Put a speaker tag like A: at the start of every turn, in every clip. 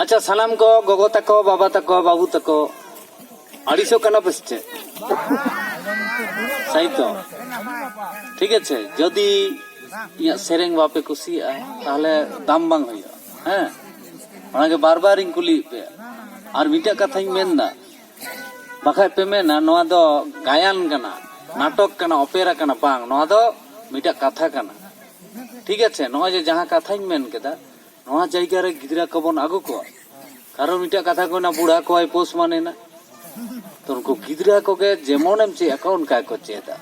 A: ᱟᱪᱪᱷᱟ ᱥᱟᱱᱟᱢ ᱠᱚ ᱜᱚᱜᱚ ᱛᱟᱠᱚ ᱵᱟᱵᱟ ᱛᱟᱠᱚ ᱵᱟᱹᱵᱩ ᱛᱟᱠᱚ ᱟᱹᱲᱤᱥᱚᱜ ᱠᱟᱱᱟ ᱯᱮ ᱥᱮ ᱪᱮᱫ ᱥᱟᱭ ᱛᱚ ᱴᱷᱤᱠ ᱟᱪᱷᱮ ᱡᱚᱫᱤ ᱤᱧᱟᱹᱜ ᱥᱮᱨᱮᱧ ᱵᱟᱯᱮ ᱠᱩᱥᱤᱭᱟᱜᱼᱟ ᱛᱟᱦᱚᱞᱮ ᱫᱟᱢ ᱵᱟᱝ ᱦᱩᱭᱩᱜᱼᱟ ᱦᱮᱸ ᱚᱱᱟᱜᱮ ᱵᱟᱨ ᱵᱟᱨᱤᱧ ᱠᱩᱞᱤᱭᱮᱫ ᱯᱮᱭᱟ ᱟᱨ ᱢᱤᱫᱴᱮᱡ ᱠᱟᱛᱷᱟᱧ ᱢᱮᱱᱫᱟ ᱵᱟᱠᱷᱟᱡ ᱯᱮ ᱢᱮᱱᱟ ᱱᱚᱣᱟ ᱫᱚ ᱜᱟᱭᱟᱱ ᱠᱟᱱᱟ ᱱᱟᱴᱚᱠ ᱠᱟᱱᱟ ᱚᱯᱮᱨᱟ ᱠᱟᱱᱟ ᱵᱟᱝ ᱱᱚᱣᱟ ᱫᱚ ᱢᱤᱫᱴᱟᱝ ᱠᱟᱛᱷᱟ ᱠᱟᱱᱟ ᱴᱷᱤᱠ ᱟᱪᱷᱮ ᱱᱚᱜᱼᱚᱭ ᱡᱮ ᱡᱟᱦᱟᱸ ᱠᱟᱛᱷᱟᱧ ᱢᱮᱱ ᱠᱮᱫᱟ ᱱᱚᱣᱟ ᱡᱟᱭᱜᱟ ᱨᱮ ᱜᱤᱫᱽᱨᱟᱹ ᱠᱚᱵᱚᱱ ᱟᱹᱜᱩ ᱠᱚᱣᱟ ᱠᱟᱨᱚᱱ ᱢᱤᱫᱴᱟᱝ ᱠᱟᱛᱷᱟ ᱠᱚ ᱢᱮᱱᱟ ᱵᱩᱲᱦᱟ ᱠᱚᱣᱟᱭ ᱯᱳᱥ ᱢᱟᱱᱮᱱᱟ ᱛᱚ ᱩᱱᱠᱩ ᱜᱤᱫᱽᱨᱟᱹ ᱠᱚᱜᱮ ᱡᱮᱢᱚᱱᱮᱢ ᱪᱮᱫ ᱟᱠᱚᱣᱟ ᱚᱱᱠᱟ ᱜᱮᱠᱚ ᱪᱮᱫᱟ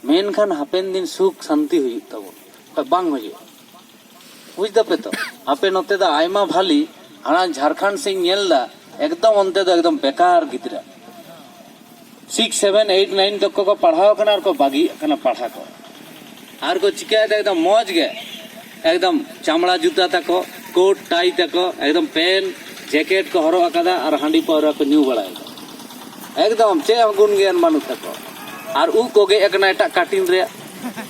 A: ᱢᱮᱱᱠᱷᱟᱱ ᱦᱟᱯᱮᱱ ᱫᱤᱱ ᱥᱩᱠ ᱥᱟᱱᱛᱤ ᱦᱩᱭᱩᱜ ᱛᱟᱵᱚᱱᱟ ᱵᱟᱝ ᱦᱩᱭᱩᱜᱼᱟ ᱵᱩᱡᱽ ᱫᱟᱯᱮ ᱛᱚ ᱟᱯᱮ ᱱᱚᱛᱮ ᱫᱚ ᱟᱭᱢᱟ ᱵᱷᱟᱞᱤ ᱦᱟᱱᱟ ᱡᱷᱟᱲᱠᱷᱚᱸᱰ ᱥᱮᱫ ᱧᱮᱞ ᱫᱟ ᱮᱠᱫᱚᱢ ᱚᱱᱛᱮ ᱫᱚ ᱮᱠᱫᱚᱢ ᱵᱮᱠᱟᱨ ᱜᱤᱫᱽᱨᱟᱹ ᱥᱤᱠᱥ ᱥᱮᱵᱷᱮᱱ ᱮᱭᱤᱴ ᱱᱟᱭᱤᱱ ᱛᱚᱠᱠᱚ ᱠᱚ ᱯᱟᱲᱦᱟᱣ ᱠᱟᱱᱟ ᱟᱨ ᱠᱚ ᱵᱟᱹᱜᱤᱭᱮᱫ ᱠᱟᱱᱟ ᱯᱟᱲᱦᱟᱣ ᱠᱚ ᱟᱨ ᱠᱚ ᱪᱤᱠᱟᱹᱭᱮᱫᱟ ᱮᱠᱫᱚᱢ ᱢᱚᱡᱽ ᱜᱮ ᱮᱠᱫᱚᱢ ᱪᱟᱢᱲᱟ ᱡᱩᱛᱟᱹ ᱛᱟᱠᱚ ᱠᱳᱴ ᱴᱟᱭ ᱛᱟᱠᱚ ᱮᱠᱫᱚᱢ ᱯᱮᱱ ᱡᱮᱠᱮᱴ ᱠᱚ ᱦᱚᱨᱚᱜ ᱟᱠᱟᱫᱟ ᱟᱨ ᱦᱟᱺᱰᱤ ᱯᱟᱹᱣᱨᱟᱹ ᱠᱚ ᱧᱩ ᱵᱟᱲᱟᱭᱮᱫᱟ ᱮᱠᱫᱚᱢ ᱪᱮᱫ ᱦᱚᱸ ᱜᱩᱱ ᱜᱮᱭᱟᱱ ᱵᱟᱹᱱᱩᱜ ᱛᱟᱠᱚ ᱟᱨ ᱩᱵ ᱠᱚ ᱜᱮᱫ ᱟᱠᱟᱱᱟ ᱮᱴᱟᱜ ᱠᱟᱴᱤᱱ ᱨᱮ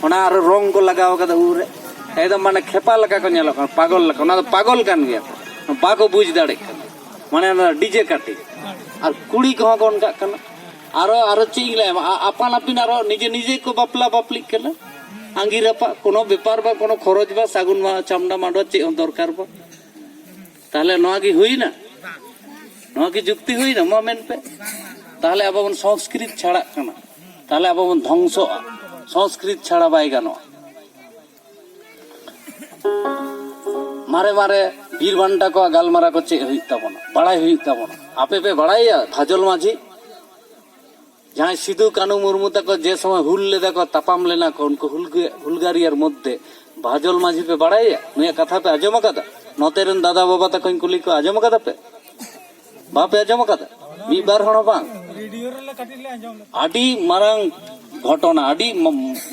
A: ᱚᱱᱟ ᱟᱨ ᱨᱚᱝ ᱠᱚ ᱞᱟᱜᱟᱣ ᱟᱠᱟᱫᱟ ᱩᱵ ᱨᱮ ᱮᱠᱫᱚᱢ ᱢᱟᱱᱮ ᱠᱷᱮᱯᱟ ᱞᱮᱠᱟ ᱠᱚ ᱧᱮᱞᱚᱜ ᱠᱟᱱᱟ ᱯᱟᱜᱚᱞ ᱞᱮᱠᱟ ᱚᱱᱟ ᱫᱚ ᱯᱟᱜᱚᱞ ᱠᱟᱱ ᱜᱮᱭᱟ ᱠᱚ ᱵᱟᱠᱚ ᱵᱩᱡᱽ ᱫᱟᱲᱮᱜ ᱠᱟᱱᱟ ᱢᱟᱱᱮ ᱚᱱᱟ ᱰᱤᱡᱮ ᱠᱟᱴᱤ ᱟᱨ ᱠᱩᱲᱤ ᱠᱚᱦᱚᱸ ᱠᱚ ᱚᱱᱠᱟᱜ ᱠᱟᱱᱟ ᱟᱨᱚ ᱟᱨᱚ ᱪᱮᱫ ᱤᱧ ᱞᱟᱹᱭᱟᱢᱟ ᱟ- ᱟᱯᱟᱱ ᱟᱹᱯᱤᱱ ᱟᱨᱚ ᱱᱤᱡᱮ ᱱᱤᱡᱮ ᱠᱚ ᱵᱟᱯᱞᱟ ᱵᱟᱯᱞᱤᱜ ᱠᱟᱱᱟ ᱟᱸᱜᱤᱨ ᱟᱯᱟᱜ ᱠᱳᱱᱳ ᱵᱮᱯᱟᱨ ᱵᱟᱝ ᱠᱳᱱᱳ ᱠᱷᱚᱨᱚᱪ ᱵᱟᱝ ᱥᱟᱹᱜᱩᱱ ᱢᱟ ᱪᱷᱟᱢᱰᱟ ᱢᱟᱰᱣᱟ ᱪᱮᱫ ᱦᱚᱸ ᱫᱚᱨᱠᱟᱨ ᱵᱟᱝ ᱛᱟᱦᱚᱞᱮ ᱱᱚᱣᱟ ᱜᱮ ᱦᱩᱭᱱᱟ ᱱᱚᱣᱟ ᱜᱮ ᱡᱩᱠᱛᱤ ᱦᱩᱭᱱᱟ ᱢᱟ ᱢᱮᱱ ᱯᱮ ᱛᱟᱦᱚᱞᱮ ᱟᱵᱚ ᱵᱚᱱ ᱥᱚᱝᱥᱠᱨᱤᱛ ᱪᱷᱟᱲᱟᱜ ᱠᱟᱱᱟ ᱛᱟᱦᱚᱞᱮ ᱟᱵᱚ ᱵᱚᱱ ᱫᱷᱚᱝᱥᱚᱜᱼᱟ ᱥᱚᱝᱥᱠᱨᱤᱛ ᱪᱷᱟᱲᱟ ᱵᱟᱭ ᱜᱟᱱᱚᱜᱼᱟ ᱢᱟᱨᱮ ᱢᱟᱨᱮ ᱵᱤᱨ ᱵᱟᱱᱴᱟ ᱠᱚᱣᱟᱜ ᱜᱟᱞᱢᱟᱨᱟᱣ ᱠᱚ ᱪᱮᱫ ᱦᱩᱭᱩᱜ ᱛᱟᱵᱚᱱᱟ ᱵᱟᱲᱟᱭ ᱦᱩᱭᱩᱜ ᱛᱟᱵᱚᱱᱟ ᱟᱯᱮ ᱯᱮ ᱵᱟᱲᱟᱭᱟ ᱠᱷᱟᱡᱚᱞ ᱢᱟᱹᱡᱷᱤ ᱡᱟᱦᱟᱸᱭ ᱥᱤᱫᱩ ᱠᱟᱹᱱᱩ ᱢᱩᱨᱢᱩ ᱛᱟᱠᱚ ᱡᱮ ᱥᱚᱢᱚᱭ ᱦᱩᱞ ᱞᱮᱫᱟ ᱠᱚ ᱛᱟᱯᱟᱢ ᱞᱮᱱᱟ ᱠᱚ ᱩᱱᱠᱩ ᱦᱩᱞᱜᱟᱹ ᱦᱩᱞᱜᱟᱹᱨᱤᱭᱟᱹᱨ ᱢᱚᱫᱽᱫᱷᱮ ᱵᱟᱦᱟᱡᱚᱞ ᱢᱟᱹᱡᱷᱤ ᱯᱮ ᱵᱟᱲᱟᱭᱟ ᱱᱩᱭᱟᱜ ᱠᱟᱛᱷᱟ ᱯᱮ ᱟᱸᱡᱚᱢ ᱟᱠᱟᱫᱟ ᱱᱚᱛᱮ ᱨᱮᱱ ᱫᱟᱫᱟ ᱵᱟᱵᱟ ᱛᱟᱠᱚᱧ ᱠᱩᱞᱤ ᱠᱚ ᱟᱸᱡᱚᱢ ᱟᱠᱟᱫᱟ ᱯᱮ ᱵᱟᱯᱮ ᱟᱸᱡᱚᱢ ᱟᱠᱟᱫᱟ ᱢᱤᱫ ᱵᱟᱨ ᱦᱚᱲ ᱦᱚᱸ ᱵᱟᱝ ᱟᱹᱰᱤ ᱢᱟᱨᱟᱝ ᱜᱷᱚᱴᱚᱱᱟ ᱟᱹᱰᱤ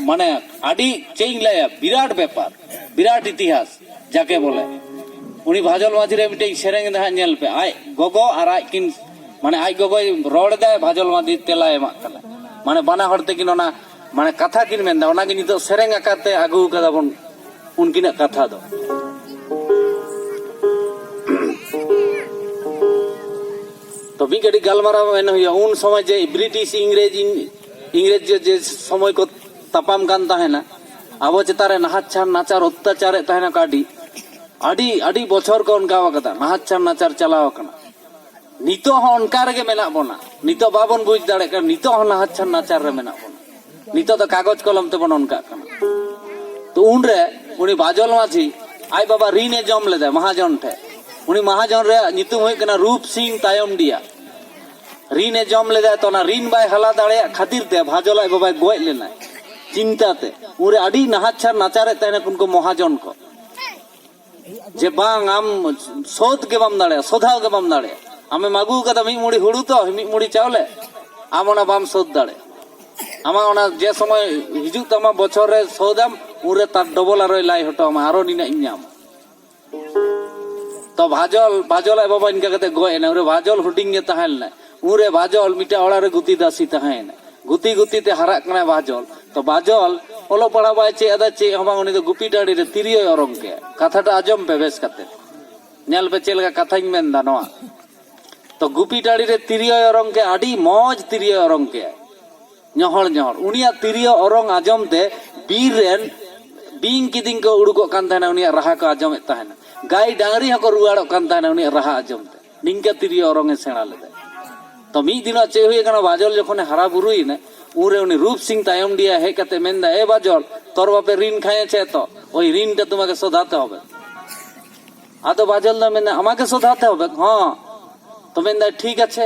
A: ᱢᱟᱱᱮ ᱟᱹᱰᱤ ᱪᱮᱫ ᱤᱧ ᱞᱟᱹᱭᱟ ᱵᱤᱨᱟᱴ ᱵᱮᱯᱟᱨ ᱵᱤᱨᱟᱴ ᱤᱛᱤᱦᱟᱥ ᱡᱟᱠᱮ ᱵᱚᱞᱮ ᱩᱱᱤ ᱵᱷᱟᱡᱚᱞ ᱢᱟᱹᱡᱷᱤ ᱨᱮ ᱢᱤᱫᱴᱮᱡ ᱥᱮᱨᱮᱧ ᱮᱫᱟ ᱦᱟᱸᱜ ᱧᱮᱞ ᱯᱮ ᱟᱡ ᱜᱚᱜᱚ ᱟᱨ ᱟᱡ ᱠᱤᱱ ᱢᱟᱱᱮ ᱟᱡ ᱜᱚᱜᱚᱭ ᱨᱚᱲ ᱮᱫᱟᱭ ᱵᱷᱟᱡᱚᱞ ᱢᱟᱹᱡᱷᱤ ᱛᱮᱞᱟᱭ ᱮᱢᱟᱜ ᱠᱟᱱᱟ ᱢᱟᱱᱮ ᱵᱟᱱᱟ ᱦᱚᱲ ᱛᱮᱠᱤᱱ ᱚᱱᱟ ᱢᱟᱱᱮ ᱠᱟᱛᱷᱟ ᱠᱤᱱ ᱢᱮᱱᱫᱟ ᱚᱱᱟᱜᱮ ᱱᱤᱛᱚᱜ ᱥᱮᱨᱮᱧ ᱟᱠᱟᱨᱛᱮ ᱟᱹᱜᱩ ᱠᱟᱫᱟ ᱵᱚᱱ ᱩᱱᱠᱤᱱᱟᱜ ᱠᱟᱛᱷᱟ ᱫᱚ ᱛᱚ ᱢᱤᱫ ᱠᱟᱹᱴᱤᱡ ᱜᱟᱞᱢᱟᱨᱟᱣ ᱢᱮᱱ ᱦᱩᱭᱩᱜᱼᱟ ᱩᱱ ᱥᱚᱢᱚᱭ ᱡᱮ ᱵᱨᱤᱴᱤᱥ ᱤᱝᱨᱮᱡᱽ ᱤᱝᱨᱮᱡᱽ ᱡᱮ ᱥᱚᱢᱚᱭ ᱠᱚ ᱛᱟᱯᱟᱢ ᱠᱟᱱ ᱛᱟᱦᱮᱱᱟ ᱟᱵᱚ ᱪᱮᱛᱟᱱ ᱨᱮ ᱱᱟᱦᱟᱪᱟᱨ ᱱᱟᱪᱟᱨ ᱚᱛᱛᱟᱪᱟᱨᱮᱫ ᱛᱟᱦᱮᱱᱟ ᱠᱚ ᱟᱹᱰᱤ ᱟᱹᱰᱤ ᱟᱹᱰᱤ ᱵᱚᱪᱷᱚᱨ ᱠᱚ ᱚᱱᱠᱟ ᱟᱠᱟᱫᱟ ᱱᱟᱦᱟᱪᱟᱨ ᱱᱟᱪᱟᱨ ᱪᱟᱞᱟᱣ ᱟᱠᱟᱱᱟ ᱱᱤᱛᱚᱜ ᱦᱚᱸ ᱚᱱᱠᱟ ᱨᱮᱜᱮ ᱢᱮᱱᱟᱜ ᱵᱚᱱᱟ ᱱᱤᱛᱚᱜ ᱵᱟᱵᱚᱱ ᱵᱩᱡᱽ ᱫᱟᱲᱮᱭᱟᱜ ᱠᱟᱱᱟ ᱱᱤᱛᱚᱜ ᱦᱚᱸ ᱱᱟᱦᱟᱪᱟᱨ ᱱᱟᱪᱟᱨ ᱨᱮ ᱢᱮᱱᱟᱜ ᱵᱚᱱᱟ ᱱᱤᱛᱚᱜ ᱫᱚ ᱠᱟᱜᱚᱡᱽ ᱠᱚᱞᱚᱢ ᱛᱮᱵᱚᱱ ᱚᱱᱠᱟᱜ ᱠᱟᱱᱟ ᱛᱚ ᱩᱱᱨᱮ ᱩᱱᱤ ᱵᱟᱡᱚᱞ ᱢᱟᱹᱡᱷᱤ ᱟᱡ ᱵᱟᱵᱟ ᱨᱤᱱ ᱮ ᱡᱚᱢ ᱞᱮᱫᱟᱭ ᱢᱟᱦᱟᱡᱚᱱ ᱴᱷᱮᱱ ᱩᱱᱤ ᱢᱟᱦᱟᱡᱚᱱ ᱨᱮᱭᱟᱜ ᱧᱩᱛᱩᱢ ᱦᱩᱭᱩᱜ ᱠᱟᱱᱟ ᱨᱩᱯ ᱥᱤᱝ ᱛᱟᱭᱚᱢᱰᱤᱭᱟ ᱨᱤᱱ ᱮ ᱡᱚᱢ ᱞᱮᱫᱟ ᱛᱚ ᱚᱱᱟ ᱨᱤᱱ ᱵᱟᱭ ᱦᱟᱞᱟ ᱫᱟᱲᱮᱭᱟᱜ ᱠᱷᱟᱹᱛᱤᱨ ᱛᱮ ᱵᱷᱟᱡᱚᱞ ᱟᱡ ᱵᱟᱵᱟᱭ ᱜᱚᱡ ᱞᱮᱱᱟ ᱪᱤᱱᱛᱟ ᱛᱮ ᱩᱱᱨᱮ ᱟᱹᱰᱤ ᱱᱟᱦᱟᱪᱟᱨ ᱱᱟᱪᱟᱨᱮᱫ ᱛᱟᱦᱮᱱᱟ ᱩᱱᱠᱩ ᱢᱚᱦᱟᱡᱚᱱ ᱠᱚ ᱡᱮ ᱵᱟᱝ ᱟᱢ ᱥᱳᱫᱷ ᱜᱮ ᱵᱟᱢ ᱫᱟᱲᱮᱭᱟᱜᱼᱟ ᱥᱳᱫᱷᱟᱣ ᱜᱮ ᱵᱟᱢ ᱫᱟᱲᱮᱭᱟᱜᱼᱟ ᱟᱢᱮᱢ ᱟᱹᱜᱩ ᱠᱟᱫᱟ ᱢᱤᱫ ᱢᱩᱲᱤ ᱦᱩᱲᱩ ᱛᱚ ᱢᱤᱫ ᱢᱩᱲᱤ ᱪᱟᱣᱞᱮ ᱟᱢ ᱚᱱᱟ ᱵᱟᱢ ᱥᱳᱫᱷ ᱫᱟᱲᱮᱭᱟᱜᱼᱟ ᱟᱢᱟᱜ ᱚᱱᱟ ᱡᱮ ᱥᱚᱢᱚᱭ ᱦᱤᱡᱩᱜ ᱛᱟᱢᱟ ᱵᱚᱪᱷᱚᱨ ᱨᱮ ᱥᱳᱫᱷᱟᱢ ᱩᱱᱨᱮ ᱛᱟᱨ ᱰᱚᱵᱚᱞ ᱟᱨᱚᱭ ᱞᱟᱭ ᱦᱚᱴᱚ ᱟᱢᱟ ᱟᱨᱚ ᱱᱤᱱᱟᱹᱜ ᱤᱧ ᱧᱟᱢᱟ ᱛᱚ ᱵᱷᱟᱡᱚᱞ ᱵᱷᱟᱡᱚᱞ ᱟᱡ ᱵᱟᱵᱟ ᱤᱱᱠᱟ ᱠᱟᱛᱮ ᱜᱚᱡ ᱮᱱᱟ ᱩᱱᱨᱮ ᱵᱷᱟᱡᱚᱞ ᱦᱩᱰᱤᱧ ᱜᱮ ᱛᱟᱦᱮᱸ ᱞᱮᱱᱟᱭ ᱩᱱᱨᱮ ᱵᱷᱟᱡᱚᱞ ᱢᱤᱫᱴᱟᱝ ᱚᱲᱟᱜ ᱨᱮ ᱜᱩᱛᱤ ᱫᱟᱥᱤ ᱛᱟᱦᱮᱸ ᱮᱱᱟᱭ ᱜᱩᱛᱤ ᱜᱩᱛᱤ ᱛᱮ ᱦᱟᱨᱟᱜ ᱠᱟᱱᱟᱭ ᱵᱷᱟᱡᱚᱞ ᱛᱚ ᱵᱷᱟᱡᱚᱞ ᱚᱞᱚᱜ ᱯᱟᱲᱦᱟᱜ ᱵᱟᱭ ᱪᱮᱫ ᱟᱫᱟ ᱪᱮᱫ ᱦᱚᱸ ᱵᱟᱝ ᱩᱱᱤ ᱫᱚ ᱜᱩᱯᱤ ᱴᱟᱺᱰᱤ ᱨᱮ ᱛᱤᱨᱭᱳᱭ ᱚᱨᱚᱝ ᱠᱮᱫ ᱠᱟᱛᱷᱟᱴᱟ ᱟᱸᱡᱚᱢ ᱯᱮ ᱵᱮᱥ ᱠᱟᱛᱮ ᱧᱮᱞ ᱯᱮ ᱪᱮᱫ ᱞᱮᱠᱟ ᱠᱟᱛᱷᱟᱧ ᱢᱮᱱ ᱮᱫᱟ ᱱᱚᱣᱟ ᱛᱚ ᱜᱩᱯᱤ ᱴᱟᱺᱰᱤ ᱨᱮ ᱛᱤᱨᱭᱳᱭ ᱚᱨᱚᱝ ᱠᱮᱫ ᱟᱹᱰᱤ ᱢᱚᱡᱽ ᱛᱤᱨᱭᱳᱭ ᱚᱨᱚᱝ ᱠᱮᱫ ᱧᱚᱦᱚᱲ ᱧᱚᱦᱚᱲ ᱩᱱᱤᱭᱟᱜ ᱛᱤᱨᱭᱳ ᱚᱨᱚᱝ ᱟᱸᱡᱚᱢ ᱛᱮ ᱵᱤᱨ ᱨᱮᱱ ᱵᱤᱧ ᱠᱤᱫᱤᱧ ᱠᱚ ᱩᱰᱩᱠᱚᱜ ᱠᱟᱱ ᱛᱟᱦᱮᱱᱟ ᱩᱱᱤᱭᱟᱜ ᱨᱟᱦᱟ ᱠᱚ ᱟᱸᱡᱚᱢᱮᱫ ᱛᱟᱦᱮᱱᱟ ᱜᱟᱭ ᱰᱟᱝᱨᱤ ᱦᱚᱸᱠᱚ ᱨᱩᱣᱟᱹᱲᱚᱜ ᱠᱟᱱ ᱛᱟᱦᱮᱱᱟ ᱩᱱᱤᱭᱟᱜ ᱨᱟᱦᱟ ᱟᱸᱡᱚᱢ ᱛᱮ ᱱᱤᱝᱠᱟᱹ ᱛᱤᱨᱭᱳ ᱚᱨᱚᱝ ᱮ ᱥᱮᱬᱟ ᱞᱮᱫᱟ ᱛᱚ ᱢᱤᱫ ᱫᱤᱱᱚᱜ ᱪᱮᱫ ᱦᱩᱭ ᱟᱠᱟᱱᱟ ᱵᱟᱡᱚᱞ ᱡᱚᱠᱷᱚᱱᱮ ᱦᱟᱨᱟ ᱵᱩᱨᱩᱭᱮᱱᱟ ᱩᱱᱨᱮ ᱩᱱᱤ ᱨᱩᱯ ᱥᱤᱝ ᱛᱟᱭᱚᱢ ᱰᱤᱭᱟ ᱦᱮᱡ ᱠᱟᱛᱮ ᱢᱮᱱᱫᱟ ᱮ ᱵᱟᱡᱚᱞ ᱛᱚᱨ ᱵᱟᱯᱮ ᱨᱤᱱ ᱠᱷᱟᱭᱮ ᱪᱮ ᱛᱚ ᱳᱭ ᱨᱤᱱ ᱴᱟ ᱛᱩᱢᱟᱠᱮ ᱥᱳᱫᱷᱟᱛᱮ ᱦᱚᱵᱮ ᱟᱫᱚ ᱵᱟᱡᱚᱞ ᱫᱚ ᱢᱮᱱᱫᱟ ᱟᱢᱟᱠᱮ ᱥᱳᱫᱷᱟᱛᱮ ᱦᱚᱵᱮ ᱦᱚᱸ ᱛᱚ ᱢᱮᱱᱫᱟ ᱴᱷᱤᱠ ᱟᱪᱷᱮ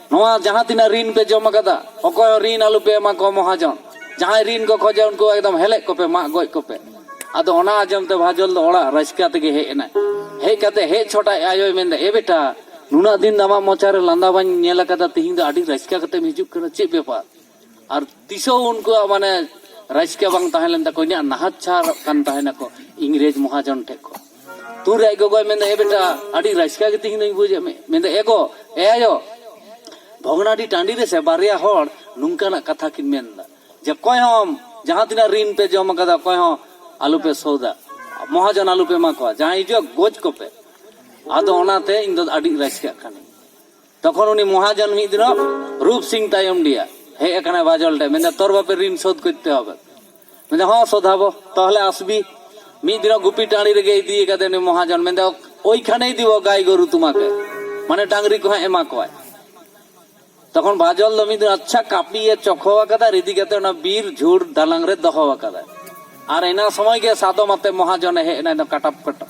A: ᱱᱚᱣᱟ ᱡᱟᱦᱟᱸ ᱛᱤᱱᱟᱹᱜ ᱨᱤᱱ ᱯᱮ ᱡᱚᱢ ᱟᱠᱟᱫᱟ ᱚᱠᱚᱭ ᱦᱚᱸ ᱨᱤᱱ ᱟᱞᱚ ᱯᱮ ᱮᱢᱟ ᱠᱚᱣᱟ ᱢᱚᱦᱟᱡᱚᱱ ᱡᱟᱦᱟᱸᱭ ᱨᱤᱱ ᱠᱚ ᱠᱷᱚᱡᱟ ᱩᱱᱠᱩ ᱮᱠᱫᱚᱢ ᱦᱮᱞᱮᱡ ᱠᱚᱯᱮ ᱢᱟᱜ ᱜᱚᱡ ᱠᱚᱯᱮ ᱟᱫᱚ ᱚᱱᱟ ᱟᱸᱡᱚᱢ ᱛᱮ ᱵᱷᱟᱡᱚᱞ ᱫᱚ ᱚᱲᱟᱜ ᱨᱟᱹᱥᱠᱟᱹ ᱛᱮᱜᱮ ᱦᱮᱡ ᱮᱱᱟᱭ ᱦᱮᱡ ᱠᱟᱛᱮ ᱦᱮᱡ ᱪᱷᱚᱴ ᱟᱡ ᱟᱭᱳᱭ ᱢᱮᱱᱫᱟ ᱮ ᱵᱮᱴᱟ ᱱᱩᱱᱟᱹᱜ ᱫᱤᱱ ᱟᱢᱟᱜ ᱢᱚᱪᱟ ᱨᱮ ᱞᱟᱸᱫᱟ ᱵᱟᱹᱧ ᱧᱮᱞ ᱟᱠᱟᱫᱟ ᱛᱤᱦᱤᱧ ᱫᱚ ᱟᱹᱰᱤ ᱨᱟᱹᱥᱠᱟᱹ ᱠᱟᱛᱮᱢ ᱦᱤᱡᱩᱜ ᱠᱟᱱᱟ ᱪᱮᱫ ᱵᱮᱯᱟᱨ ᱟᱨ ᱛᱤᱥᱚ ᱩᱱᱠᱩ ᱢᱟᱱᱮ ᱨᱟᱡᱽᱠᱮ ᱵᱟᱝ ᱛᱟᱦᱮᱸ ᱞᱮᱱ ᱛᱟᱠᱚ ᱤᱧᱟᱹᱜ ᱱᱟᱦᱟᱛ ᱪᱷᱟᱨ ᱠᱟᱱ ᱛᱟᱦᱮᱸ ᱱᱟᱠᱚ ᱤᱝᱨᱮᱡᱽ ᱢᱚᱦᱟᱡᱚᱱ ᱴᱷᱮᱡ ᱠᱚ ᱛᱩᱨ ᱟᱡ ᱜᱚᱜᱚᱭ ᱢᱮᱱᱫᱟ ᱮ ᱵᱮᱴᱟ ᱟᱹᱰᱤ ᱨᱟᱡᱽᱠᱟ ᱜᱮ ᱛᱤᱦᱤᱧ ᱫᱚᱧ ᱵᱩᱡᱮᱫ ᱢᱮ ᱢᱮᱱᱫᱟ ᱮ ᱜᱚ ᱮ ᱟᱭᱳ ᱵᱷᱚᱜᱽᱱᱟᱰᱤ ᱴᱟᱺᱰᱤ ᱨᱮᱥᱮ ᱵᱟᱨᱭᱟ ᱦᱚᱲ ᱱᱚᱝᱠᱟᱱᱟᱜ ᱠᱟᱛᱷᱟ ᱠᱤᱱ ᱢᱮᱱᱫᱟ ᱡᱮ ᱚᱠᱚᱭ ᱦᱚᱸ ᱡᱟᱦᱟᱸ ᱛᱤᱱᱟᱹᱜ ᱨᱤᱱ ᱯᱮ ᱡᱚᱢ ᱟᱠᱟᱫᱟ ᱚᱠᱚᱭ ᱦᱚᱸ ᱟᱞᱚᱯᱮ ᱥᱳᱫᱟ ᱢᱚᱦᱟᱡᱚᱱ ᱟᱞᱚᱯᱮ ᱮᱢᱟ ᱠᱚᱣᱟ ᱡᱟᱦᱟᱸᱭ ᱦᱤᱡᱩᱜᱼᱟ ᱜᱚᱡ ᱠᱚᱯᱮ ᱟᱫᱚ ᱚᱱᱟᱛᱮ ᱤᱧ ᱫᱚ ᱟᱹᱰᱤ ᱨᱟᱡᱽᱠᱟᱜ ᱠᱟᱹᱱᱟᱹᱧ ᱛᱚᱠᱷᱚᱱ ᱩᱱᱤ ᱢᱚᱦᱟᱡᱚᱱ ᱢᱤᱫ ᱫᱤᱱᱚᱜ ᱨᱩᱯ ᱥᱤᱝ ᱛᱟᱭᱚᱢ ᱰᱤᱭᱟ ᱦᱮᱡ ᱟᱠᱟᱱᱟ ᱵᱟᱡᱚᱞ ᱴᱷᱮᱱ ᱢᱮᱱᱫᱟ ᱛᱚᱨ ᱵᱟᱯᱮ ᱨᱤᱱ ᱥᱳᱫᱷ ᱠᱚᱨᱛᱮ ᱦᱚᱵᱮ ᱢᱮᱱᱫᱟ ᱦᱚᱸ ᱥᱳᱫᱷᱟᱵᱚ ᱛᱟᱦᱚᱞᱮ ᱟᱥᱵᱤ ᱢᱤᱫ ᱫᱤᱱᱚᱜ ᱜᱩᱯᱤ ᱴᱟᱺᱰᱤ ᱨᱮᱜᱮ ᱤᱫᱤ ᱟᱠᱟᱫᱮ ᱩᱱᱤ ᱢᱚᱦᱟᱡᱚᱱ ᱢᱮᱱᱫᱟ ᱳᱭᱠᱷᱟᱱᱮ ᱤᱫᱤ ᱵᱚ ᱜᱟᱭ ᱜᱚᱨᱩ ᱛᱩᱢᱟᱠᱮ ᱢᱟᱱᱮ ᱰᱟᱝᱨᱤ ᱠᱚ ᱦᱟᱸᱜ ᱮᱢᱟ ᱠᱚᱣᱟᱭ ᱛᱚᱠᱷᱚᱱ ᱵᱟᱡᱚᱞ ᱫᱚ ᱢᱤᱫ ᱫᱤᱱ ᱟᱪᱪᱷᱟ ᱠᱟᱹᱯᱤᱭᱮ ᱪᱚᱠᱷᱚ ᱟᱠᱟᱫᱟ ᱟᱨ ᱤᱫᱤ ᱠᱟᱛᱮ ᱚᱱᱟ ᱵᱤᱨ ᱡᱷᱩᱲ ᱫᱟᱞᱟᱝ ᱨᱮ ᱫᱚᱦᱚ ᱟᱠᱟᱫᱟᱭ ᱟᱨ ᱮᱱᱟ ᱥᱚᱢᱚᱭ ᱜᱮ ᱥᱟᱫᱚᱢ ᱟᱛᱮ ᱢᱚᱦᱟᱡᱚᱱᱮ ᱦᱮᱡ ᱮᱱᱟ ᱠᱟᱴᱟᱯ ᱠᱟᱴᱟᱯ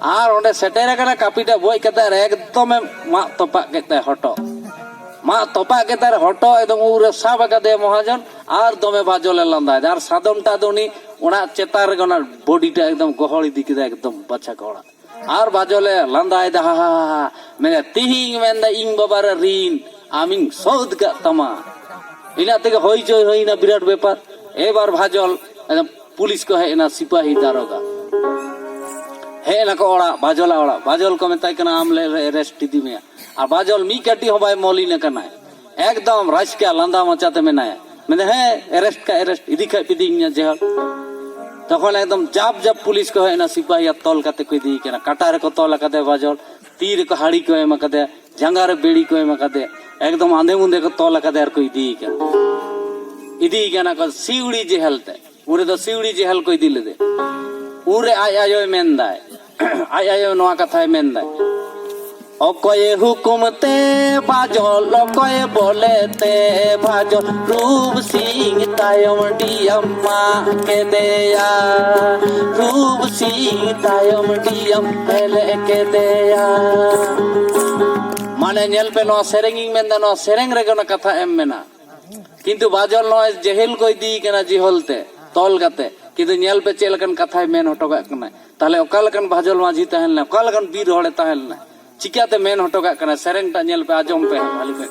A: ᱟᱨ ᱚᱸᱰᱮ ᱥᱮᱴᱮᱨ ᱟᱠᱟᱱᱟ ᱠᱟᱹᱯᱤ ᱴᱟᱜ ᱵᱚᱡ ᱠᱟᱛᱮ ᱟᱨ ᱮᱠᱫᱚᱢᱮ ᱢᱟᱜ ᱛᱚᱯᱟᱜ ᱠᱮᱫ ᱛᱟᱭ ᱦᱚᱴᱚᱜ ᱢᱟᱜ ᱛᱚᱯᱟᱜ ᱠᱮᱫ ᱛᱟᱭ ᱦᱚᱴᱚᱜ ᱮᱠᱫᱚᱢ ᱩᱵ ᱨᱮ ᱥᱟᱵ ᱟᱠᱟᱫᱮᱭᱟ ᱢᱚᱦᱟᱡᱚᱱ ᱟᱨ ᱫᱚᱢᱮ ᱵᱟᱡᱚᱞᱮ ᱞᱟᱸᱫᱟᱭᱮᱫᱟ ᱟᱨ ᱥᱟᱫᱚᱢ ᱴᱟᱜ ᱫᱚ ᱩᱱᱤ ᱚᱱᱟ ᱪᱮᱛᱟᱱ ᱨᱮᱜᱮ ᱚᱱᱟ ᱵᱚᱰᱤ ᱴᱟᱜ ᱮᱠᱫᱚᱢ ᱜᱚᱦᱚᱲ ᱤᱫᱤ ᱠᱮᱫᱟ ᱮᱠᱫᱚᱢ ᱵᱟᱪᱷᱟ ᱠᱚᱲᱟ ᱟᱨ ᱵᱟᱡᱚᱞᱮ ᱞᱟᱸᱫᱟᱭᱮᱫᱟ ᱦᱟ ᱦᱟ ᱦᱟ ᱢᱮᱱᱫᱟ ᱛᱤᱦᱤᱧ ᱢᱮᱱᱫᱟ ᱤᱧ ᱵᱟᱵᱟ ᱨᱮ ᱨᱤᱱ ᱟᱢᱤᱧ ᱥᱳᱫᱷ ᱠᱟᱜ ᱛᱟᱢᱟ ᱤᱱᱟᱹ ᱛᱮᱜᱮ ᱦᱚᱭ ᱡᱚᱭ ᱦᱩᱭᱱᱟ ᱵᱤᱨᱟᱴ ᱵᱮᱯᱟᱨ ᱮᱵᱟᱨ ᱵᱷᱟᱡᱚᱞ ᱯᱩᱞᱤᱥ ᱠᱚ ᱦᱮᱡ ᱮᱱᱟ ᱥᱤᱯᱟᱦᱤ ᱫᱟᱨᱚᱜᱟ ᱦᱮᱡ ᱮᱱᱟᱠᱚ ᱚᱲᱟᱜ ᱵᱟᱡᱚᱞᱟ ᱚᱲᱟᱜ ᱵᱟᱡᱚᱞ ᱠᱚ ᱢᱮᱛᱟᱭ ᱠᱟᱱᱟ ᱟᱢ ᱞᱮ ᱨᱮᱥᱴ ᱤᱫᱤ ᱢᱮᱭᱟ ᱟᱨ ᱵᱟᱡᱚᱞ ᱢᱤᱫ ᱠᱟᱹᱴᱤᱡ ᱦᱚᱸ ᱵᱟᱭ ᱢᱚᱞᱤᱱ ᱟᱠᱟᱱᱟᱭ ᱮᱠᱫᱚᱢ ᱨᱟᱡᱽᱠᱟ ᱞᱟᱸᱫᱟ ᱢᱚᱪᱟᱛᱮ ᱢᱮᱱᱟᱭᱟ ᱢᱮᱱᱫᱟ ᱦᱮᱸ ᱮᱨᱮᱥᱴ ᱠᱷᱟᱡ ᱮᱨᱮᱥᱴ ᱤᱫᱤ ᱠᱷᱟᱡ ᱯᱤᱫᱤᱧᱟ ᱡᱮᱦᱚᱞ ᱛᱚᱠᱷᱚᱱ ᱮᱠᱫᱚᱢ ᱡᱟᱯ ᱡᱟᱯ ᱯᱩᱞᱤᱥ ᱠᱚ ᱦᱮᱡ ᱮᱱᱟ ᱥᱤᱯᱟᱦᱤᱭᱟᱜ ᱛᱚᱞ ᱠᱟᱛᱮ ᱠᱚ ᱤᱫᱤᱭᱮ ᱠᱟᱱᱟ ᱠᱟᱴᱟ ᱨᱮᱠᱚ ᱛᱚᱞ ᱟᱠᱟᱫᱮ ᱵᱟᱡᱚᱞ ᱛᱤ ᱨᱮᱠᱚ ᱦᱟᱹᱲᱤ ᱠᱚ ᱮᱢ ᱟᱠᱟᱫᱮᱭᱟ ᱡᱟᱸᱜᱟ ᱨᱮ ᱵᱮᱲᱤ ᱠᱚ ᱮᱢ ᱟᱠᱟᱫᱮᱭᱟ ᱮᱠᱫᱚᱢ ᱟᱸᱫᱮ ᱢᱩᱸᱫᱮ ᱠᱚ ᱛᱚᱞ ᱟᱠᱟᱫᱮᱭᱟ ᱟᱨ ᱠᱚ ᱤᱫᱤᱭᱮ ᱠᱟᱱᱟ ᱤᱫᱤᱭᱮ ᱠᱟᱱᱟ ᱠᱚ ᱥᱤᱣᱲᱤ ᱡᱮᱦᱮᱞ ᱛᱮ ᱩᱱ ᱨᱮᱫᱚ ᱥᱤᱣᱲᱤ ᱡᱮᱦᱮᱞ ᱠᱚ ᱤᱫᱤ ᱞᱮᱫᱮ ᱩᱱ ᱨᱮ ᱟᱡ ᱟᱭᱳᱭ ᱢᱮᱱᱫᱟᱭ ᱟᱡ ᱟᱭᱳ ᱱᱚᱣᱟ ᱠᱟᱛᱷᱟᱭ ᱢᱮᱱᱫᱟᱭ ᱚᱠᱚᱭ ᱦᱩᱠᱩᱢ ᱛᱮ ᱵᱟᱡᱚᱞ ᱚᱠᱚᱭ ᱵᱚᱞᱮ ᱛᱮ ᱵᱟᱡᱚᱞ ᱨᱩᱯ ᱥᱤᱝ ᱛᱟᱭᱚᱢ ᱰᱤᱭᱟᱢ ᱢᱟ ᱠᱮᱫᱮᱭᱟ ᱨᱩᱯ ᱥᱤᱝ ᱛᱟᱭᱚᱢ ᱰᱤᱭᱟᱢ ᱢᱟᱱᱮ ᱧᱮᱞ ᱯᱮ ᱱᱚᱣᱟ ᱥᱮᱨᱮᱧ ᱤᱧ ᱢᱮᱱᱫᱟ ᱱᱚᱣᱟ ᱥᱮᱨᱮᱧ ᱨᱮᱜᱮ ᱚᱱᱟ ᱠᱟᱛᱷᱟ ᱮᱢ ᱢᱮᱱᱟᱜ ᱠᱤᱱᱛᱩ ᱵᱟᱡᱚᱞ ᱱᱚᱜᱼᱚᱭ ᱡᱮᱦᱮᱞ ᱠᱚ ᱤᱫᱤ ᱠᱟᱱᱟ ᱡᱤᱦᱚᱞ ᱛᱮ ᱛᱚᱞ ᱠᱟᱛᱮ ᱠᱤᱱᱛᱩ ᱧᱮᱞ ᱯᱮ ᱪᱮᱫ ᱞᱮᱠᱟᱱ ᱠᱟᱛᱷᱟᱭ ᱢᱮᱱ ᱦᱚᱴᱚ ᱠᱟᱜ ᱠᱟᱱᱟᱭ ᱛᱟᱦᱞᱮ ᱚᱠᱟ ᱞᱮᱠᱟᱱ ᱵᱷᱟᱡᱚᱞ ᱢᱟᱹᱡᱷᱤ ᱛᱟᱦᱮᱸ ᱞᱮᱱᱟ ᱚᱠᱟ ᱞᱮᱠᱟᱱ ᱵᱤᱨ ᱦᱚᱲᱮ ᱛᱟᱦᱮᱸ ᱞᱮᱱᱟ ᱪᱤᱠᱟᱛᱮ ᱢᱮᱱ ᱦᱚᱴᱚ ᱠᱟᱜ ᱠᱟᱱᱟᱭ ᱥᱮᱨᱮᱧ ᱴᱟᱜ ᱧᱮᱞ ᱯᱮ ᱟᱸᱡᱚᱢ ᱯᱮ ᱵᱷᱟᱹᱞᱤ ᱠᱚᱡ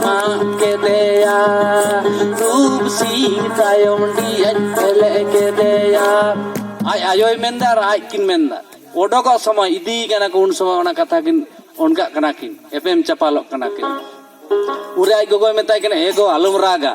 A: ᱠᱮᱫᱮᱭᱟ ᱨᱩᱯ ᱥᱤᱝ ᱛᱟᱭᱚᱢ ᱰᱤᱭᱟᱡ ᱯᱷᱮᱞᱮ ᱠᱮᱫᱮᱭᱟ ᱟᱡ ᱟᱭᱳᱭ ᱢᱮᱱᱫᱟ ᱟᱨ ᱟᱡ ᱠᱤᱱ ᱢᱮᱱᱫᱟ ᱚᱰᱚᱠᱚᱜ ᱥᱚᱢᱚᱭ ᱤᱫᱤ ᱠᱟᱱᱟ ᱠᱚ ᱩᱱ ᱥᱚᱢᱚᱭ ᱚᱱᱟ ᱠᱟᱛᱷᱟ ᱠᱤᱱ ᱚᱱᱠᱟᱜ ᱠᱟᱱᱟ ᱠᱤᱱ ᱮᱯᱮᱢ ᱪᱟᱯᱟᱞᱚᱜ ᱠᱟᱱᱟ ᱠᱤᱱ ᱩᱱᱨᱮ ᱟᱡ ᱜᱚᱜᱚᱭ ᱢᱮᱛᱟᱭ ᱠᱟᱱᱟ ᱮ ᱜᱚ ᱟᱞᱚᱢ ᱨᱟᱜᱟ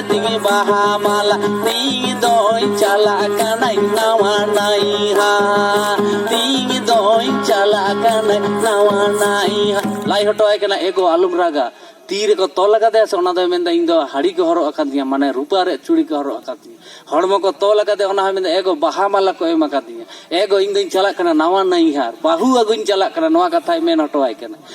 A: ᱛᱤᱧ ᱵᱟᱦᱟ ᱢᱟᱞᱟ ᱛᱤᱧ ᱫᱚᱭ ᱪᱟᱞᱟᱜ ᱠᱟᱱᱟᱭ ᱱᱟᱣᱟ ᱱᱟᱭᱦᱟ ᱛᱤᱧ ᱫᱚᱭ ᱪᱟᱞᱟᱜ ᱠᱟᱱᱟᱭ ᱱᱟᱣᱟ ᱱᱟᱭᱦᱟ ᱞᱟᱭ ᱦᱚᱴᱚᱣᱟᱭ ᱠᱟᱱᱟ ᱮᱜᱚ ᱟᱞᱚᱢ ᱨᱟᱜᱟ ᱛᱤ ᱨᱮᱠᱚ ᱛᱚᱞ ᱟᱠᱟᱫᱮᱭᱟ ᱥᱮ ᱚᱱᱟ ᱫᱚᱭ ᱢᱮᱱᱫᱟ ᱤᱧ ᱫᱚ ᱦᱟᱹᱲᱤ ᱠᱚ ᱦᱚᱨᱚᱜ ᱟᱠᱟᱫᱤᱧᱟ ᱢᱟᱱᱮ ᱨᱩᱯᱟᱹ ᱨᱮ ᱪᱩᱲᱤ ᱠᱚ ᱦᱚᱨᱚᱜ ᱟᱠᱟᱫᱤᱧᱟ ᱦᱚᱲᱢᱚ ᱠᱚ ᱛᱚᱞ ᱟᱠᱟᱫᱮᱭᱟ ᱚᱱᱟ ᱦᱚᱸ ᱢᱮᱱᱫᱟ ᱮᱜᱚ ᱵᱟᱦᱟ ᱢᱟᱞᱟ ᱠᱚ ᱮᱢ ᱟᱠᱟᱫᱤᱧᱟ ᱮᱜᱚ ᱤᱧ ᱫᱚᱧ ᱪᱟᱞᱟᱜ ᱠᱟᱱᱟ ᱱᱟᱣᱟ ᱱᱟᱹᱭᱦᱟᱨ ᱵᱟᱹᱦᱩ ᱟᱹᱜᱩᱧ ᱪᱟᱞᱟᱜ ᱠᱟᱱᱟ ᱱᱚᱣᱟ ᱠᱟᱛᱷᱟᱭ ᱢᱮᱱ ᱦᱚᱴᱚᱣᱟᱭ ᱠᱟᱱᱟ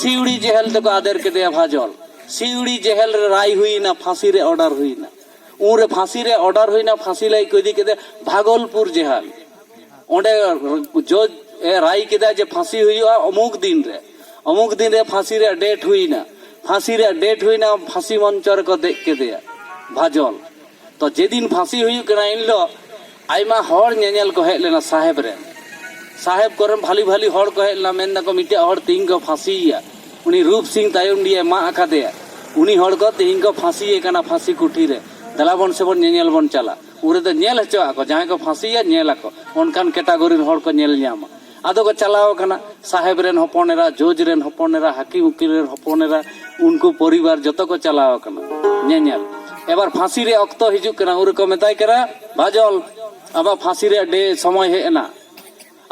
A: ᱥᱤᱣᱲᱤ ᱡᱮᱦᱮᱞ ᱛᱮᱠᱚ ᱟᱫᱮᱨ ᱠᱮᱫᱮᱭᱟ ᱵᱷᱟᱡᱚᱞ ᱥᱤᱣᱲᱤ ᱡᱮᱦᱮᱞ ᱨᱮ ᱨᱟᱭ ᱦᱩᱭᱱᱟ ᱯᱷᱟᱸᱥᱤ ᱨᱮ ᱚᱰᱟᱨ ᱦᱩᱭᱱᱟ ᱩᱱᱨᱮ ᱯᱷᱟᱸᱥᱤ ᱨᱮ ᱚᱰᱟᱨ ᱦᱩᱭᱱᱟ ᱯᱷᱟᱸᱥᱤ ᱞᱟᱹᱭ ᱠᱚ ᱤᱫᱤ ᱠᱮᱫᱮ ᱵᱷᱟᱜᱚᱞᱯᱩᱨ ᱡᱮᱦᱮᱞ ᱚᱸᱰᱮ ᱡᱚᱡᱽ ᱮ ᱨᱟᱭ ᱠᱮᱫᱟ ᱡᱮ ᱯᱷᱟᱸᱥᱤ ᱦᱩᱭᱩᱜᱼᱟ ᱚᱢᱩᱠ ᱫᱤᱱ ᱨᱮ ᱚᱢᱩᱠ ᱫᱤᱱ ᱨᱮ ᱯᱷᱟᱸᱥᱤ ᱨᱮ ᱰᱮᱴ ᱦᱩᱭᱱᱟ ᱯᱷᱟᱸᱥᱤ ᱨᱮ ᱰᱮᱴ ᱦᱩᱭᱱᱟ ᱯᱷᱟᱸᱥᱤ ᱢᱚᱧᱪᱚ ᱨᱮᱠᱚ ᱫᱮᱡ ᱠᱮᱫᱮᱭᱟ ᱵᱷᱟᱡᱚᱞ ᱛᱚ ᱡᱮᱫᱤᱱ ᱯᱷᱟᱸᱥᱤ ᱦᱩᱭᱩᱜ ᱠᱟᱱᱟ ᱤᱱ ᱦᱤᱞᱳᱜ ᱟᱭᱢᱟ ᱦᱚᱲ ᱧᱮᱧᱮᱞ ᱠᱚ ᱦᱮᱡ ᱞᱮᱱᱟ ᱥᱟᱦᱮᱵᱽ ᱨᱮᱱ ᱥᱟᱦᱮᱵᱽ ᱠᱚᱨᱮᱱ ᱵᱷᱟᱞᱤ ᱵᱷᱟᱞᱤ ᱦᱚᱲ ᱠᱚ ᱦᱮᱡ ᱞᱮᱱᱟ ᱢᱮᱱ ᱫᱟᱠᱚ ᱢᱤᱫᱴᱮᱡ ᱦᱚᱲ ᱛᱤᱦᱤᱧ ᱠᱚ ᱯᱷᱟᱸᱥᱤᱭᱮᱭᱟ ᱩᱱᱤ ᱨᱩᱯ ᱥᱤᱝ ᱛᱟᱭᱚᱢᱰᱤᱭᱟᱭ ᱢᱟᱜ ᱟᱠᱟᱫᱮᱭᱟ ᱩᱱᱤ ᱦᱚᱲ ᱠᱚ ᱛᱤᱦᱤᱧ ᱠᱚ ᱯᱷᱟᱸᱥᱤᱭᱮ ᱠᱟᱱᱟ ᱯᱷᱟᱸᱥᱤ ᱠᱩᱴᱷᱤ ᱨᱮ ᱫᱮᱞᱟ ᱵᱚᱱ ᱥᱮ ᱵᱚᱱ ᱧᱮᱧᱮᱞ ᱵᱚᱱ ᱪᱟᱞᱟᱜ ᱩᱱ ᱨᱮᱫᱚ ᱧᱮᱞ ᱦᱚᱪᱚᱣᱟᱜ ᱠᱚ ᱡᱟᱦᱟᱸᱭ ᱠᱚ ᱯᱷᱟᱸᱥᱤᱭᱮᱭᱟ ᱧᱮᱞ ᱟᱠᱚ ᱚᱱᱠᱟᱱ ᱠᱮᱴᱟᱜᱚᱨᱤ ᱨᱮᱱ ᱦᱚᱲ ᱠᱚ ᱧᱮᱞ ᱧᱟᱢᱟ ᱟᱫᱚ ᱠᱚ ᱪᱟᱞᱟᱣ ᱟᱠᱟᱱᱟ ᱥᱟᱦᱮᱵᱽ ᱨᱮᱱ ᱦᱚᱯᱚᱱ ᱮᱨᱟ ᱡᱚᱡᱽ ᱨᱮᱱ ᱦᱚᱯᱚᱱ ᱮᱨᱟ ᱦᱟᱹᱠᱤᱢ ᱩᱠᱤᱞ ᱨᱮᱱ ᱦᱚᱯᱚᱱ ᱮᱨᱟ ᱩᱱᱠᱩ ᱯᱚᱨᱤᱵᱟᱨ ᱡᱚᱛᱚ ᱠᱚ ᱪᱟᱞᱟᱣ ᱟᱠᱟᱱᱟ ᱧᱮᱧᱮᱞ ᱮᱵᱟᱨ ᱯᱷᱟᱸᱥᱤ ᱨᱮ ᱚᱠᱛᱚ ᱦᱤᱡᱩᱜ ᱠᱟᱱᱟ ᱩᱱ ᱨᱮᱠᱚ ᱢᱮᱛᱟᱭ ᱠᱟᱱᱟ ᱵᱟᱡᱚᱞ ᱟᱢᱟᱜ ᱯᱷᱟᱸᱥᱤ ᱨᱮ ᱰᱮ ᱥᱚᱢᱚᱭ ᱦᱮᱡ ᱮᱱᱟ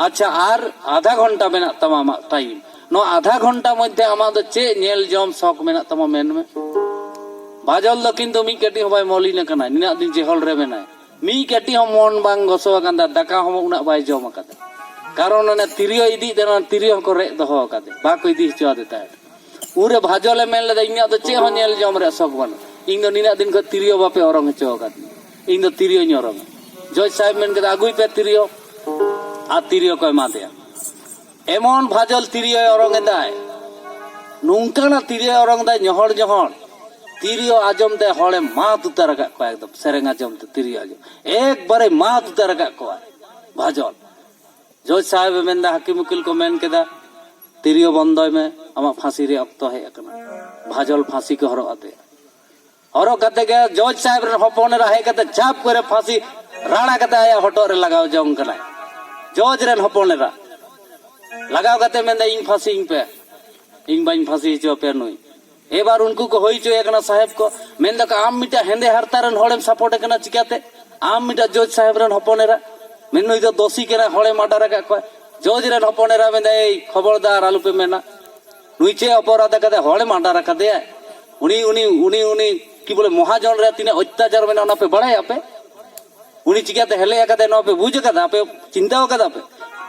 A: ᱟᱪᱪᱷᱟ ᱟᱨ ᱟᱫᱷᱟ ᱜᱷᱚᱱᱴᱟ ᱢᱮᱱᱟᱜ ᱛᱟᱢᱟ ᱟᱢᱟᱜ ᱴᱟᱭᱤᱢ ᱱᱚᱣᱟ ᱟᱫᱷᱟ ᱜᱷᱚᱱᱴᱟ ᱢᱚᱫᱽᱫᱷᱮ ᱟᱢᱟᱜ ᱫᱚ ᱪᱮᱫ ᱧᱮᱞ ᱡᱚᱢ ᱥᱚᱠ ᱢᱮᱱᱟᱜ ᱛᱟᱢᱟ ᱢᱮᱱ ᱢᱮ ᱵᱟᱡᱚᱞ ᱫᱚ ᱠᱤᱱᱛᱩ ᱢᱤᱫ ᱠᱟᱹᱴᱤᱡ ᱦᱚᱸ ᱵᱟᱭ ᱢᱚᱞᱤᱱ ᱟᱠᱟᱱᱟ ᱱᱤᱱᱟᱹᱜ ᱫᱤᱱ ᱡᱮᱦᱚᱞ ᱨᱮ ᱢᱮᱱᱟᱭ ᱢᱤᱫ ᱠᱟᱹᱴᱤᱡ ᱦᱚᱸ ᱢᱚᱱ ᱵᱟᱝ ᱜᱚᱥᱚ ᱟᱠᱟᱱ ᱛᱟᱭᱟ ᱫᱟᱠᱟ ᱦᱚᱸ ᱩᱱᱟᱹᱜ ᱵᱟᱭ ᱡᱚᱢ ᱟᱠᱟᱫᱟ ᱠᱟᱨᱚᱱ ᱚᱱᱮ ᱛᱤᱨᱭᱳ ᱤᱫᱤᱭᱮᱫ ᱛᱟᱦᱮᱱᱟ ᱛᱤᱨᱭᱳ ᱦᱚᱸᱠᱚ ᱨᱮᱡ ᱫᱚᱦᱚ ᱟᱠᱟᱫᱮ ᱵᱟᱠᱚ ᱤᱫᱤ ᱦᱚᱪᱚ ᱟᱫᱮ ᱛᱟᱦᱮᱸᱫ ᱩᱱᱨᱮ ᱵᱷᱟᱡᱚᱞᱮ ᱢᱮᱱ ᱞᱮᱫᱟ ᱤᱧᱟᱹᱜ ᱫᱚ ᱪᱮᱫ ᱦᱚᱸ ᱧᱮᱞ ᱡᱚᱢ ᱨᱮᱭᱟᱜ ᱥᱚᱠ ᱵᱟᱹᱱᱩᱜ ᱤᱧ ᱫᱚ ᱱᱤᱱᱟᱹᱜ ᱫᱤᱱ ᱠᱷᱚᱱ ᱛᱤᱨᱭᱳ ᱵᱟᱯᱮ ᱚᱨᱚᱝ ᱦᱚᱪᱚ ᱟᱠᱟᱫᱤᱧ ᱤᱧ ᱫᱚ ᱛᱤᱨᱭᱳᱧ ᱚᱨᱚᱝᱟ ᱡᱚᱡᱽ ᱥᱟᱦᱮᱵᱽ ᱢᱮᱱ ᱠᱮᱫᱟ ᱟᱹᱜᱩᱭ ᱯᱮ ᱛᱤᱨᱭᱳ ᱟᱨ ᱛᱤᱨᱭᱳ ᱠᱚ ᱮᱢᱟ ᱫᱮᱭᱟ ᱮᱢᱚᱱ ᱵᱷᱟᱡᱚᱞ ᱛᱤᱨᱭᱳᱭ ᱚᱨᱚᱝ ᱮᱫᱟᱭ ᱱᱚᱝᱠᱟᱱᱟᱜ ᱛᱤᱨᱭᱳᱭ ᱚᱨᱚᱝ ᱮᱫᱟᱭ ᱧᱚᱦᱚᱲ ᱧᱚᱦᱚᱲ ᱛᱤᱨᱭᱳ ᱟᱸᱡᱚᱢ ᱛᱮ ᱦᱚᱲᱮ ᱢᱟᱛ ᱩᱛᱟᱹᱨ ᱟᱠᱟᱫ ᱠᱚᱣᱟ ᱮᱠᱫᱚᱢ ᱥᱮᱨᱮᱧ ᱟᱸᱡᱚᱢ ᱛᱮ ᱛᱤᱨᱭᱳ ᱟᱸᱡᱚᱢ ᱮᱠᱵᱟᱨᱮ ᱢᱟᱛ ᱩᱛᱟᱹᱨ ᱟᱠᱟᱫ ᱠᱚᱣᱟ ᱵᱷᱟᱡᱚᱞ ᱡᱚᱡᱽ ᱥᱟᱦᱮᱵᱮ ᱢᱮᱱᱫᱟ ᱦᱟᱹᱠᱤᱢ ᱩᱠᱤᱞ ᱠᱚ ᱢᱮᱱ ᱠᱮᱫᱟ ᱛᱤᱨᱭᱳ ᱵᱚᱱᱫᱚᱭ ᱢᱮ ᱟᱢᱟᱜ ᱯᱷᱟᱸᱥᱤ ᱨᱮᱭᱟᱜ ᱚᱠᱛᱚ ᱦᱮᱡ ᱟᱠᱟᱱᱟ ᱵᱷᱟᱡᱚᱞ ᱯᱷᱟᱸᱥᱤ ᱠᱚ ᱦᱚᱨᱚᱜ ᱟᱫᱮᱭᱟ ᱦᱚᱨᱚᱜ ᱠᱟᱛᱮ ᱜᱮ ᱡᱚᱡᱽ ᱥᱟᱦᱮᱵ ᱨᱮᱱ ᱦᱚᱯᱚᱱ ᱮᱨᱟ ᱦᱮᱡ ᱠᱟᱛᱮ ᱪᱷᱟᱯ ᱠᱚᱨᱮ ᱯᱷᱟᱸᱥᱤ ᱨᱟᱲᱟ ᱠᱟᱛᱮ ᱟᱭᱟᱜ ᱦᱚᱴᱚᱜ ᱨᱮ ᱞᱟᱜᱟᱣ ᱡᱚᱝ ᱠᱟᱱᱟᱭ ᱡᱚᱡᱽ ᱨᱮᱱ ᱦᱚᱯᱚᱱ ᱮᱨᱟ ᱞᱟᱜᱟᱣ ᱠᱟᱛᱮ ᱢᱮᱱᱫᱟ ᱤᱧ ᱯᱷᱟᱸᱥᱤᱧ ᱯᱮ ᱤᱧ ᱵᱟᱹᱧ ᱯᱷᱟᱸᱥᱤ ᱦᱚᱪᱚ ᱟᱯᱮᱭᱟ ᱱᱩᱭ ᱮᱵᱟᱨ ᱩᱱᱠᱩ ᱠᱚ ᱦᱩᱭ ᱦᱚᱪᱚᱭᱮ ᱠᱟᱱᱟ ᱥᱟᱦᱮᱵ ᱠᱚ ᱢᱮᱱ ᱫᱟᱠᱚ ᱟᱢ ᱢᱤᱫᱴᱟᱝ ᱦᱮᱸᱫᱮ ᱦᱟᱨᱛᱟ ᱨᱮᱱ ᱦᱚᱲᱮᱢ ᱥᱟᱯᱳᱨᱴ ᱠᱟᱱᱟ ᱪᱤᱠᱟᱛᱮ ᱟᱢ ᱢᱤᱫᱴᱟᱝ ᱡᱚᱡᱽ ᱥᱟᱦᱮᱵ ᱨᱮᱱ ᱦᱚᱯᱚᱱ ᱮᱨᱟ ᱢᱮᱱ ᱱᱩᱭ ᱫᱚ ᱫᱳᱥᱤ ᱠᱟᱱᱟ ᱦᱚᱲᱮ ᱢᱟᱰᱟᱨ ᱟᱠᱟᱫ ᱠᱚᱣᱟ ᱡᱚᱡᱽ ᱨᱮᱱ ᱦᱚᱯᱚᱱ ᱮᱨᱟ ᱢᱮᱱᱫᱟ ᱮᱭ ᱠᱷᱚᱵᱚᱨᱫᱟᱨ ᱟᱞᱚᱯᱮ ᱢᱮᱱᱟ ᱱᱩᱭ ᱪᱮᱫ ᱚᱯᱚᱨᱟᱫ ᱟᱠᱟᱫᱟᱭ ᱦᱚᱲᱮ ᱢᱟᱰᱟᱨ ᱟᱠᱟᱫᱮᱭᱟ ᱩᱱᱤ ᱩᱱᱤ ᱩᱱᱤ ᱩᱱᱤ ᱠᱤ ᱵᱚᱞᱮ ᱢᱚᱦᱟᱡᱚᱱ ᱨᱮ ᱛᱤᱱᱟᱹᱜ ᱚᱛᱛᱟᱪᱟᱨ ᱢᱮᱱᱟᱜᱼᱟ ᱚᱱᱟ ᱯᱮ ᱵᱟᱲᱟᱭᱟ ᱯᱮ ᱩᱱᱤ ᱪᱤᱠᱟᱹᱛᱮ ᱦᱮᱞᱮ ᱟᱠᱟᱫᱟᱭ ᱱᱚᱣᱟ ᱯᱮ ᱵᱩᱡᱽ ᱟᱠᱟᱫᱟ ᱟᱯᱮ ᱪᱤᱱᱛᱟᱹ ᱟᱠᱟᱫᱟ ᱯᱮ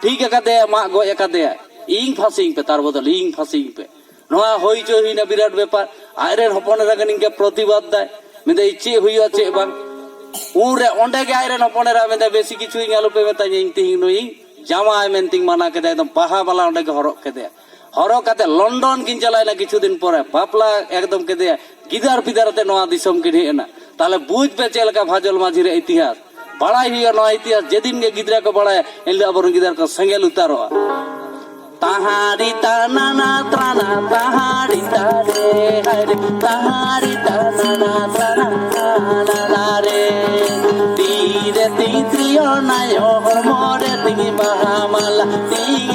A: ᱴᱷᱤᱠ ᱟᱠᱟᱫᱮᱭᱟ ᱢᱟᱜ ᱜᱚᱡ ᱟᱠᱟᱫᱮᱭᱟ ᱤᱧ ᱯᱷᱟᱸᱥᱤᱧ ᱯᱮ ᱛᱟᱨ ᱵᱚᱫᱚᱞ ᱤᱧ ᱯᱷᱟᱸᱥᱤᱧ ᱯᱮ ᱱᱚᱣᱟ ᱦᱩᱭ ᱦᱚᱪᱚ ᱦᱩᱭᱱᱟ ᱵᱤᱨᱟᱴ ᱵᱮᱯᱟᱨ ᱟᱡ ᱨᱮᱱ ᱦᱚᱯᱚᱱ ᱮᱨᱟ ᱜᱮ ᱱᱤᱝᱠᱟᱹ ᱯᱨᱚᱛᱤᱵᱟᱫ ᱫᱟᱭ ᱢᱮᱱᱫᱟᱭ ᱪᱮᱫ ᱦᱩᱭᱩᱜᱼᱟ ᱪᱮᱫ ᱵᱟᱝ ᱩᱱᱨᱮ ᱚᱸᱰᱮ ᱜᱮ ᱟᱡ ᱨᱮᱱ ᱦᱚᱯᱚᱱ ᱮᱨᱟ ᱢᱮᱱᱫᱟᱭ ᱵᱮᱥᱤ ᱠᱤᱪᱷᱩ ᱤᱧ ᱟᱞᱚᱯᱮ ᱢᱮᱛᱟᱧᱟ ᱤᱧ ᱛᱤᱦᱤᱧ ᱱᱩᱭᱤᱧ ᱡᱟᱶᱟᱭ ᱢᱮᱱᱛᱮᱧ ᱢᱟᱱᱟ ᱠᱮᱫᱟ ᱮᱠᱫᱚᱢ ᱵᱟᱦᱟ ᱢᱟᱞᱟ ᱚᱸᱰᱮ ᱜᱮ ᱦᱚᱨᱚᱜ ᱠᱮᱫᱮᱭᱟ ᱦᱚᱨᱚᱜ ᱠᱟᱛᱮ ᱞᱚᱱᱰᱚᱱ ᱠᱤᱱ ᱪᱟᱞᱟᱣᱮᱱᱟ ᱠᱤᱪᱷᱩ ᱫᱤᱱ ᱯᱚᱨᱮ ᱵᱟᱯᱞᱟ ᱮᱠᱫᱚᱢ ᱠᱮᱫᱮᱭᱟ ᱜᱤᱫᱟᱹᱨ ᱯᱤᱫᱟᱹᱨ ᱟᱛᱮ ᱱᱚᱣᱟ ᱫᱤᱥᱚᱢ ᱠᱤᱱ ᱦᱮᱡ ᱮᱱᱟ ᱛᱟᱦᱞᱮ ᱵᱩᱡᱽ ᱯᱮ ᱪᱮᱫ ᱞᱮᱠᱟ ᱵᱷᱟᱡᱚᱞ ᱢᱟᱹᱡᱷᱤ ᱨᱮ ᱤᱛᱤᱦᱟᱥ ᱵᱟᱲᱟᱭ ᱦᱩᱭᱩᱜᱼᱟ ᱱᱚᱣᱟ ᱤᱛᱤᱦᱟᱥ ᱡᱮᱫᱤᱱ ᱜᱮ ᱜᱤᱫᱽᱨᱟᱹ ᱠᱚ ᱵᱟᱲᱟᱭᱟ ᱮᱱᱦᱤᱞᱳᱜ ᱟᱵᱚᱨᱮᱱ ᱜᱤᱫᱽᱨᱟᱹ ᱠᱚ ᱥᱮᱸᱜᱮᱞ ᱩᱛᱟᱨᱚᱜᱼᱟ ᱛᱟᱦᱟᱨᱤ ᱛᱟᱱᱟᱱᱟ ᱛᱨᱟᱱᱟ ᱛᱟᱦᱟᱨᱤ ᱛᱟᱨᱮ ᱦᱟᱨᱮ ᱛᱟᱦᱟᱨᱤ ᱛᱟᱱᱟᱱᱟ ᱛᱨᱟᱱᱟ ᱛᱟᱱᱟᱱᱟ ᱨᱮ ᱛᱤᱨᱮ ᱛᱤᱛᱨᱤᱭᱚ ᱱᱟᱭᱚ ᱦᱚᱲᱢᱚ ᱨᱮ ᱛᱤᱧ ᱵᱟᱦᱟ ᱢᱟᱞᱟ ᱛᱤ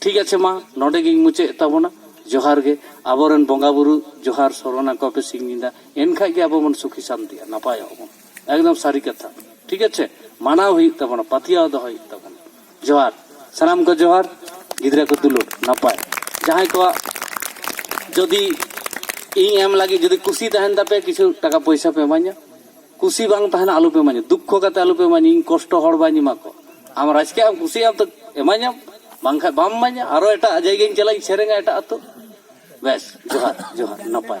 A: ᱴᱷᱤᱠ ᱟᱪᱷᱮ ᱢᱟ ᱱᱚᱰᱮ ᱜᱤᱧ ᱢᱩᱪᱟᱹᱫ ᱛᱟᱵᱚᱱᱟ ᱡᱚᱦᱟᱨ ᱜᱮ ᱟᱵᱚᱨᱮᱱ ᱵᱚᱸᱜᱟ ᱵᱩᱨᱩ ᱡᱚᱦᱟᱨ ᱥᱚᱨᱚᱱᱟ ᱠᱚ ᱯᱮ ᱥᱤᱧ ᱧᱤᱫᱟ ᱮᱱᱠᱷᱟᱡ ᱜᱮ ᱟᱵᱚ ᱵᱚᱱ ᱥᱩᱠᱷᱤ ᱥᱟᱱᱛᱤᱜᱼᱟ ᱱᱟᱯᱟᱭᱚᱜ ᱵᱚᱱ ᱮᱠᱫᱚᱢ ᱥᱟᱹᱨᱤ ᱠᱟᱛᱷᱟ ᱴᱷᱤᱠ ᱟᱪᱷᱮ ᱢᱟᱱᱟᱣ ᱦᱩᱭᱩᱜ ᱛᱟᱵᱚᱱᱟ ᱯᱟᱛᱭᱟᱣ ᱫᱚᱦᱚ ᱦᱩᱭᱩᱜ ᱛᱟᱵᱚᱱᱟ ᱡᱚᱦᱟᱨ ᱥᱟᱱᱟᱢ ᱠᱚ ᱡᱚᱦᱟᱨ ᱜᱤᱫᱽᱨᱟᱹ ᱠᱚ ᱫᱩᱞᱩᱲ ᱱᱟᱯᱟᱭ ᱡᱟᱦᱟᱸᱭ ᱠᱚᱣᱟᱜ ᱡᱩᱫᱤ ᱤᱧ ᱮᱢ ᱞᱟᱹᱜᱤᱫ ᱡᱩᱫᱤ ᱠᱩᱥᱤ ᱛᱟᱦᱮᱱ ᱛᱟᱯᱮ ᱠᱤᱪᱷᱩ ᱴᱟᱠᱟ ᱯᱚᱭᱥᱟ ᱯᱮ ᱤᱢᱟᱹᱧᱟ ᱠᱩᱥᱤ ᱵᱟᱝ ᱛᱟᱦᱮᱱᱟ ᱟᱞᱚᱯᱮ ᱮᱢᱟᱹᱧᱟ ᱫᱩᱠᱠᱷᱚ ᱠᱟᱛᱮ ᱟᱞᱚᱯᱮ ᱮᱢᱟᱹᱧᱟ ᱤᱧ ᱠᱚᱥᱴᱚ ᱦᱚᱲ ᱵᱟᱹᱧ ᱮᱢᱟ ᱠᱚᱣᱟ ᱟᱢ ᱨᱟᱡᱽᱠᱮ ᱟᱢ ᱠᱩᱥᱤᱭᱟᱜᱼᱟᱢ ᱛᱚ ᱮᱢᱟᱹᱧᱟᱢ ᱵᱟᱝᱠᱷᱟᱱ ᱵᱟᱢ ᱮᱢᱟᱹᱧᱟ ᱟᱨᱚ ᱮᱴᱟᱜ ᱡᱟᱭᱜᱟᱧ ᱪᱟᱞᱟᱜᱼᱟ ᱤᱧ ᱥᱮᱨᱮᱧᱟ ᱮᱴᱟᱜ ᱟᱛᱳ ᱵᱮᱥ ᱡᱚᱦᱟᱨ ᱡᱚᱦᱟᱨ ᱱᱟᱯᱟᱭ